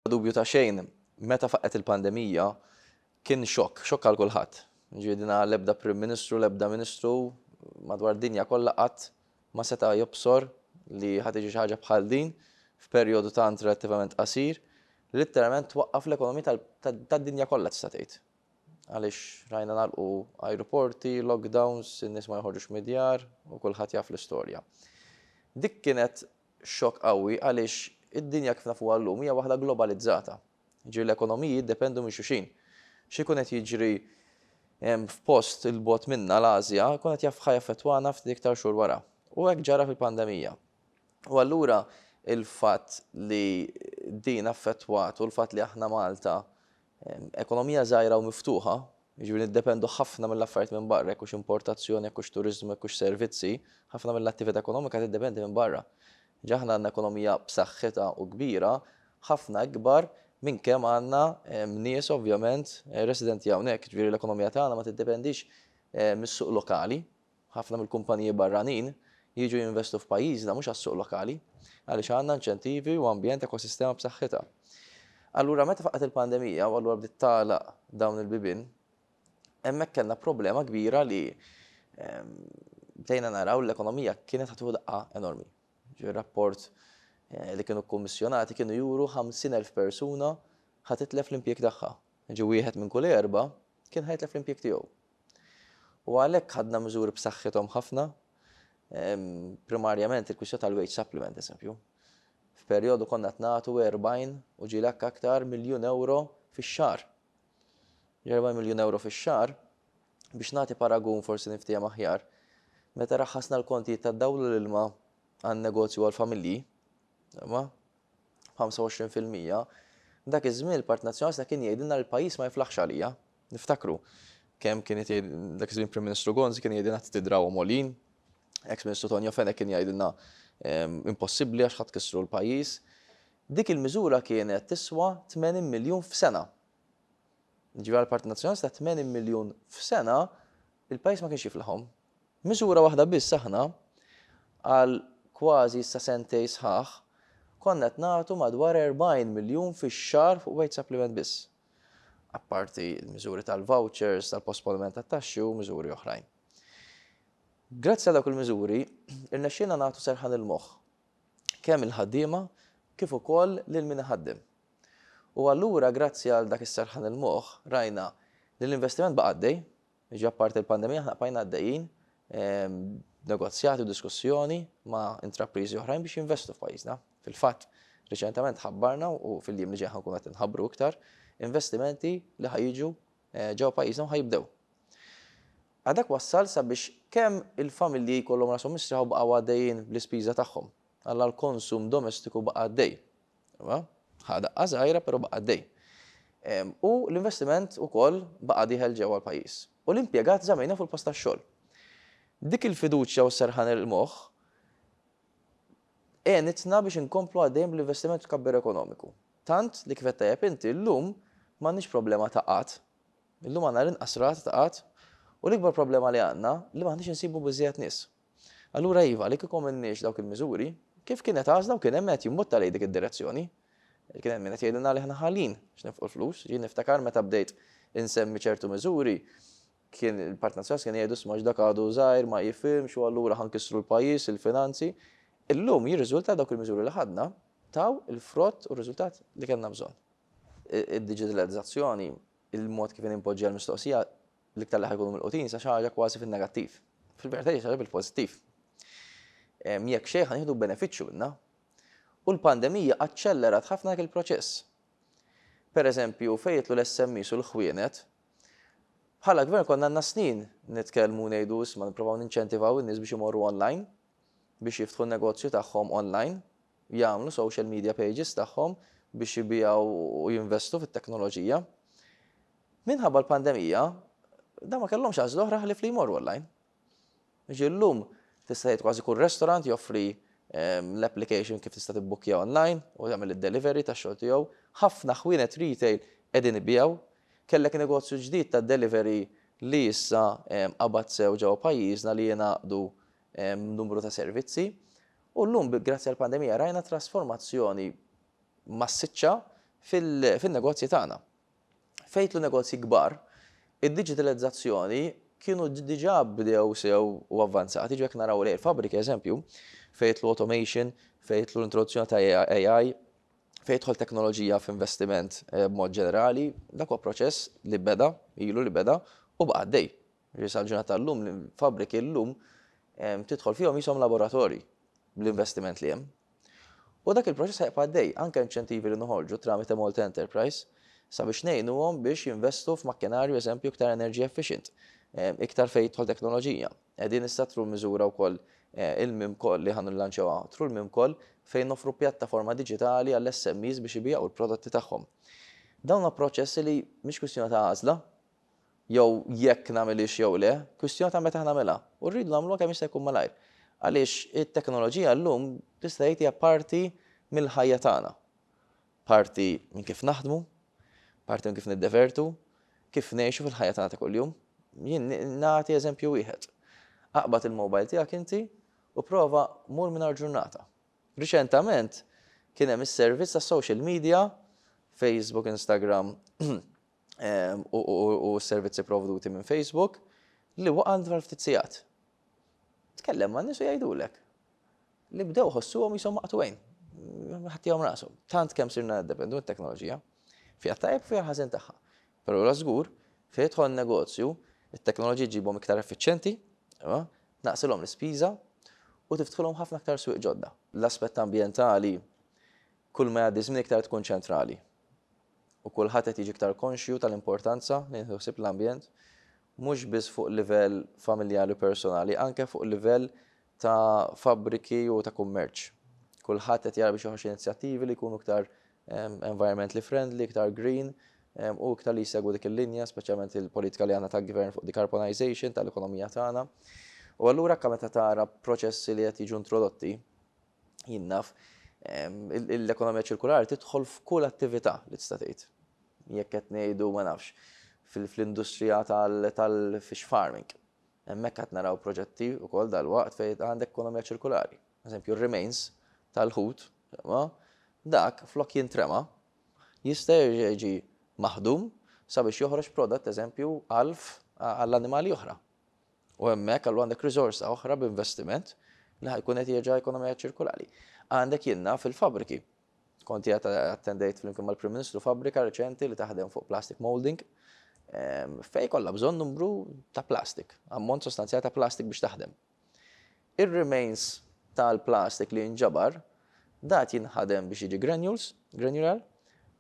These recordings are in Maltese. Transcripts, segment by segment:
Bla dubju ta' xejn, meta faqqgħet il-pandemija kien xokk, xokk għal kulħadd. Jiġifieri din l-ebda Prim Ministru, l-ebda Ministru madwar dinja kollha qatt ma seta' jobsor li ħa tiġi xi ħaġa bħal din f'perjodu tant relattivament qasir li litteralment twaqqaf l-ekonomija tad-dinja kollha tista' tgħid. Għaliex rajna nagħlqu ajruporti, lockdowns, in-nies ma joħorġux mid-djar u kulħadd jaf l-istorja. Dik kienet xokk qawwi għaliex id-dinja kif nafuha llum hija waħda globalizzata. Jiġifieri l-ekonomiji jiddependu minn xulxin. Xi jkun qed jiġri f'post 'il bogħod minna, l-Ażja, jkun qed ħa jaffettwana ftit iktar xhur wara. U hekk ġara fil-pandemija. U allura l-fatt li din affettwat u l-fatt li aħna Malta Ekonomija żgħira u miftuħa, jiġifieri niddependu ħafna mill-affarijiet minn barra, jekk hux importazzjoni, jekk hux turiżmu, jekk hux servizzi, ħafna mill-attività ekonomika tiddependi minn barra. Ġa aħna għandna ekonomija b'saħħitha u kbira, ħafna ikbar minn kemm għandna nies ovvjament residenti hawnhekk, jiġifieri l-ekonomija tagħna ma tiddependix mis-suq lokali, Ħafna mill-kumpaniji barranin jiġu jinvestu f'pajjiżna mhux għas-suq lokali, għaliex għandna inċentivi u ambjent ekosistema b'saħħitha. Allura meta faqgħet il-pandemija u allura bdiet tagħlaq dawn il-bibien, hemmhekk kellna problema kbira li bdejna naraw li l-ekonomija kienet ħadd tieħu daqqa enormi. Ġifieri rapport li kienu kkummissjonati kienu juru 50,000 persuna ħa titlef l-impjieg tagħha. Ġi wieħed minn kull erba' kien ħa jitlef l-impjieg tiegħu. U għalhekk ħadna miżuri b'saħħithom ħafna, primarjament il-kwistjoni tal-wage supplement, eżempju. F'perjodu konna qed nagħtu 40 u ġieli anke aktar miljun ewro fix-xahar. 40 miljun ewro fix-xahar, biex nagħti paragun forsi niftiehem aħjar, meta raħħasna l-kontijiet tad-dawl u l-ilma għan-negozju għall-familji, imma 25%, dak iż-żmien il-Partit Nazzjonalista kien jgħidilna li l-pajjiż ma jiflaħx għalija. Niftakru kemm kien qed jgħid dak iż-żmien Prim Ministru Gonzi kien jgħidilna trid tidrawhom għolin. Eks Ministru Tonio Fenech kien jgħidilna ehm, impossibbli għax ħadd kissru l-pajjiż. Dik il-miżura kienet tiswa 80 miljun f'sena. Ġivi għal-Partit Nazzjonalista 80 miljun f'sena il-pajjiż ma kienx jiflaħhom. Miżura waħda biss aħna għal kważi sa sentej sħaħ konna qed nagħtu madwar 40 miljun fix-xahar fuq wage supplement biss. apparti l-miżuri tal-vouchers, tal-posponiment tat-taxxi u miżuri oħrajn. Grazzi għal dawk il-miżuri, irnexxielna nagħtu serħan il-moħħ kemm il-ħaddiema kif ukoll lil min iħaddem. U allura grazzi għal dak is-serħan il-moħħ rajna li l-investiment baqa' għaddej, Jiġi apparti l-pandemija aħna bqajna għaddejjin b'negozjati u diskussjoni ma' intrapriżi oħrajn biex jinvestu f'pajjiżna. Fil-fatt, riċentement ħabbarna u fil-jiem li ġejjin ħa nkunu qed inħabbru iktar investimenti li ħa jiġu ġewwa pajjiżna u ħa jibdew. A Dak wassal sabiex kemm il-familji jkollhom rashom mistrieħa u baqgħu għaddejjin bl-ispiża tagħhom. Alla l-konsum domestiku baqa' għaddej. Imma ħa daqqa żgħira però baqa' għaddej. U l-investiment ukoll baqa' dieħel ġewwa l-pajjiż. U l-impjegat żammejna fuq il-post tax-xogħol. Dik il-fiduċja u s-serħan il-moħħ għenitna biex inkomplu għaddejjin bl-investiment u t-tkabbir ekonomiku. Tant li kif għedt tajjeb inti, illum m'għandniex problema ta' qgħad. Illum għandna l-inqas rata ta' qgħad u l-ikbar problema li għandna li m'aħniex insibu biżżejjed nies. Allura iva, li kieku m'għandniex dawk il-miżuri, kif kienet għażla u kien hemm min qed jimbutta lejn dik id-direzzjoni? Kien hemm min qed jgħidilna li aħna ħalin biex nifqu l-flus. Jien niftakar meta bdejt insemmi ċertu miżuri, kien il-Partit Nazzjonalista kienu jgħidu isma' x'dak għadu żgħir, ma jifhimx u allura ħa nkissru l-pajjiż, il-finanzi. Illum jirriżulta dawk il-miżuri li ħadna taw il-frott u r-riżultat li kellna bżonn. Id-diġitalizzazzjoni, il-mod kif inpoġġiha l-mistoqsija, L-iktar li ħa jkunu milqutin sa xi ħaġa kważi fin-negattiv. Fil-verità hija xi ħaġa bil-pożittiv. Jekk xejn ħa nieħdu benefiċċju minnha. U l-pandemija aċċellerat ħafna dak il-proċess. Pereżempju, fejn jidħlu l-SMEs u l-ħwienet, bħala gvern konna għandna snin nitkellmu u ngħidu isma' nipprovaw ninċentivaw in-nies biex imorru online, biex jiftħu n-negozju tagħhom online, jagħmlu social media pages tagħhom biex ibiegħu u jinvestu fit-teknoloġija. Minħabba l-pandemija, dawn ma kellhomx għażla oħra ħlief li jmorru online. Jiġifieri llum tista' tgħid kważi kull restaurant joffri l-application kif tista' tibbukkja online u tagħmel id-delivery tax-xogħol tiegħu. Ħafna ħwienet retail qegħdin ibigħu. Kellek negozju ġdid ta' delivery li issa qabad sew ġewwa pajjiżna li jingħaqdu numru ta' servizzi. U llum grazzi għall-pandemija rajna trasformazzjoni massiċċa fin-negozji tagħna. F'għid l-negozji kbar, id-diġitalizzazzjoni kienu diġà bdew sew u avvanzati, jiġifieri jekk naraw lejn il-fabbriki, eżempju, fejn jidħlu automation, fejn jidħlu l-introduzzjoni ta' AI, fejn jidħol teknoloġija f'investiment b'mod ġenerali, dak huwa proċess li beda, ilu li beda u baqa' għaddej. Ġifieri sal-ġurnata tal-lum l-fabbriki llum tidħol fihom qishom laboratorji bl-investiment li hemm. U dak il-proċess ħa jibqa' għaddej, anke inċentivi li noħorġu tramite Malta Enterprise sabiex ngħinuhom biex jinvestu f'makkinarju eżempju iktar energy efficient, iktar fejn tidħol teknoloġija. Qegħdin issa through miżura wkoll il-Mimco li ħa nillanċjawha through il-Mimco fejn noffru pjattaforma diġitali għall-SMEs biex ibiegħu l-prodotti tagħhom. Dawn huma proċessi li mhix kwistjoni ta' għażla, jew jekk nagħmilhiex jew le, kwistjoni ta' meta nagħmilha. U rridu nagħmluha kemm jista' jkun malajr. Għaliex it-teknoloġija llum tista' jgħid hija parti mill-ħajja tagħna. Parti minn kif naħdmu, parti minn kif niddevertu, kif ngħixu fil-ħajja tagħna ta' kuljum. Jien nagħti eżempju wieħed. Aqbad il-mobile tiegħek inti u prova mur mingħajr ġurnata. Riċentament kien hemm is-servizz tas-social media, Facebook, Instagram, u s-servizzi provduti minn Facebook li waqa' dwar ftit sigħat. Tkellem ma' nies u jgħidulek li bdew ħossuhom jisom maqtwejn, ħattihom rashom. Tant kemm sirna dependu mit-teknoloġija, fiha tajjeb fiha ħażin tagħha. Però la żgur, fejn jidħol negozju, it-teknoloġija ġibhom iktar effiċjenti, tnaqqsilhom l-ispiża u tiftħilhom ħafna iktar swieq ġodda. L-aspett ambjentali kull ma jgħaddi żmien iktar tkun ċentrali. u kulħadd qed jiġi iktar konxju tal-importanza li nieħdu ħsieb l-ambjent mhux biss fuq livell familjari u personali, anke fuq livell ta' fabbriki u ta' kummerċ. Kulħadd qed jara biex joħroġ inizjattivi li jkunu iktar environmentally friendly, iktar green, u iktar li jsegwu dik il-linja, speċjalment il-politika li għandna tal-gvern fuq decarbonization tal-ekonomija tagħna. U allura anke meta tara proċessi li qed jiġu introdotti, Jien naf, l-ekonomija ċirkulari tidħol f'kull attività li tista' tgħid. Jekk qed ngħidu ma nafx, fl-industrija tal-fish farming. Hemmhekk qed naraw proġetti wkoll dalwaqt fejn għandek ekonomija ċirkulari. Eżempju, r-remains tal-ħut, dak flok jintrema, jista' jerġa' jiġi maħdum sabiex joħroġ prodott, eżempju, għalf għall-annimali oħra. U hemmhekk allura għandek riżorsa oħra b'investiment li ħajkun qed jerġa' ekonomija ċirkolari. Għandek jinnaf il-fabbriki. Kont qiegħed attendejt flimkien mal-Prim Ministru fabbrika reċenti li taħdem fuq plastic molding ehm, fej kollha bżonn numru ta' plastik, ammont sostanzjali ta' plastik biex taħdem. Ir-remains tal-plastik li jinġabar dat jinħadem biex jiġi granules, granular,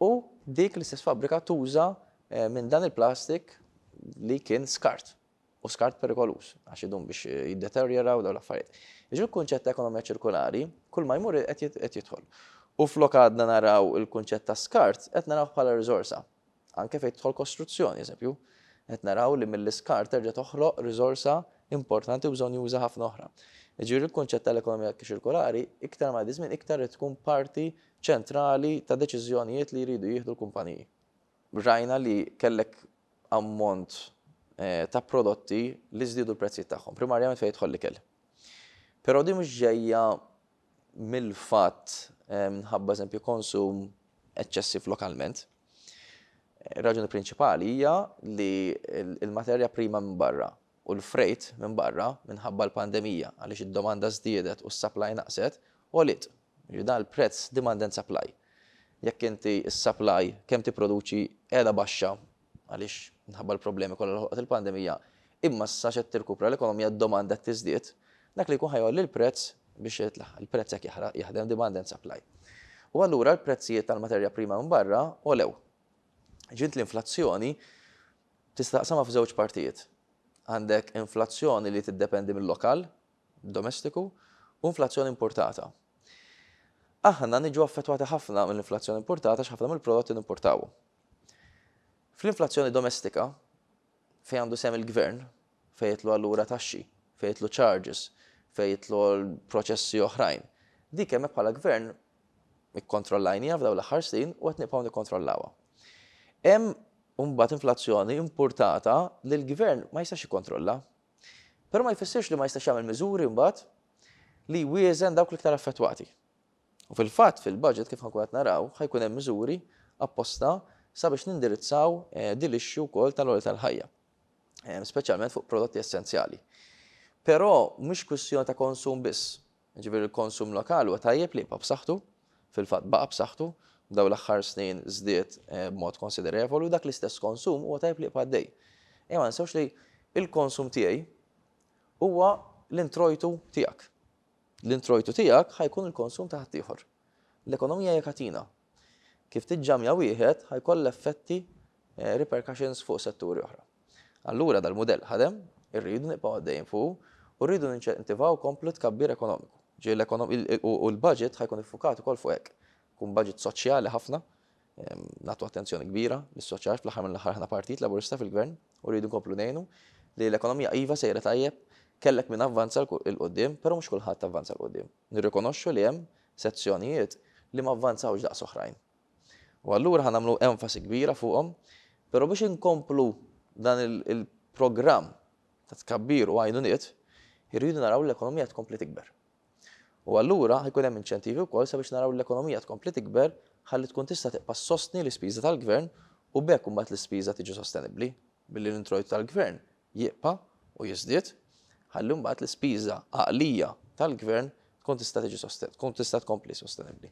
u dik l-istess fabbrika tuża eh, minn dan il-plastik li kien skart. u skart perikoluż, għax idum biex jiddeterjoraw dawn l-affarijiet. Jiġifieri l-kunċett ta' ekonomija ċirkolari kull ma jmur qed jidħol. U flok għadna naraw il-kunċett ta' skart, qed narawh bħala riżorsa. Anke fejn tidħol kostruzzjoni, eżempju, qed naraw li mill-iskart terġa' toħloq riżorsa importanti u bżonnjuża ħafna oħra. Jiġifieri l-kunċett tal-ekonomija ċirkolari iktar ma jgħaddi żmien iktar trid tkun parti ċentrali ta' deċiżjonijiet li jridu jieħdu l-kumpaniji. Rajna li kellek ammont ta' prodotti li żdiedu l-prezzijiet tagħhom, primarjament fejn jidħol l-ikel. Però din mhux ġejja mill-fatt minħabba eżempju konsum eċċessiv lokalment. Raġuni prinċipali hija li l-materja prima minn barra u l-frejt minn barra minħabba l-pandemija għaliex id-domanda żdiedet u s-supply naqset, għoliet. Jiġifieri dan il-prezz demand and supply. Jekk inti s-supply kemm tipproduċi qiegħda baxxa għaliex minħabba l-problemi kollha li ħolqot il-pandemija, imma sa x'qed tirkupra l-ekonomija d-domanda qed tiżdied, dak li jkun ħa jgħolli l-prezz biex jitlaħaq. Il-prezz hekk jaħraq, jaħdem demand and supply. U allura l-prezzijiet tal-materja prima minn barra għolew. Ġiet l-inflazzjoni Tista' taqsamha f'żewġ partijiet. Għandek inflazzjoni li tiddependi mil-lokal, domestiku, u inflazzjoni impurtata. Aħna niġu affettwati ħafna mill-inflazzjoni impurtata għax ħafna mill-prodotti nimpurtawu. Fl-inflazzjoni domestika, fejn għandu sehem il-gvern, fejn jidħlu allura taxxi, fejn jidħlu charges, fejn jidħlu proċessi oħrajn, dik hemmhekk bħala gvern Ikkontrollajniha f'dawn l-aħħar snin u qed nibqgħu nikkontrollawha. Hemm imbagħad inflazzjoni impurtata li l-Gvern ma jistax jikkontrolla. Però ma jfissirx li ma jistax jagħmel miżuri mbagħad li jwieżen dawk l-iktar affettwati. U fil-fatt fil-budget kif ħankun qed naraw ħa jkun hemm miżuri apposta sabiex nindirizzaw eh, din l-issue wkoll tal-għoli tal-ħajja, eh, speċjalment fuq prodotti essenzjali. Però mhix kwistjoni ta' konsum biss, Jiġifieri l-konsum lokali huwa tajjeb li jibqa' b'saħħtu, fil-fatt baqa' b'saħħtu, f'dawn l-aħħar snin żdied b'mod konsiderevoli u dak l-istess konsum huwa tajjeb li jibqa' għaddej. Ejja ma ninsewx li l-konsum tiegħi huwa l-introjtu tiegħek. L-introjtu tiegħek ħa jkun il-konsum ta' ħaddieħor. L-ekonomija hija katina. Kif tiġġammja wieħed ħa jkollha effetti, repercussions, fuq setturi oħra. Allura dal-mudell ħadem, irridu nibqgħu għaddejjin fuqu u rridu ninċentivaw komplu tkabbir ekonomiku. U l-budget ħa jkun iffukat ukoll fuq hekk. Ikun budget soċjali ħafna, nagħtu attenzjoni kbira lis-soċjal għax fl-aħħar mill-aħħar aħna Partit Laburista fil-Gvern u rridu nkomplu ngħinu li l-ekonomija iva sejra tajjeb, kellek min avvanza 'l quddiem, però mhux kulħadd avvanza 'l quddiem. Nirrikonoxxu li hemm sezzjonijiet li ma vvanzawx daqs oħrajn. U allura ħa nagħmlu enfasi kbira fuqhom, però biex inkomplu dan il-programm ta' tkabbir u għajnuniet, irridu naraw li l-ekonomija tkompli tikber. U allura ħa jkun hemm inċentivi wkoll sabiex naraw li l-ekonomija tkompli tikber ħalli tkun tista' tibqa' ssostni l-ispiża tal-gvern u b'hekk imbagħad l-ispiża tiġi sostenibbli billi l-introjtu tal-gvern jibqa' u jiżdied, ħalli mbagħad l-ispiża għaqlija tal-gvern tkun tista' tiġi tkun tista' tkompli sostenibbli.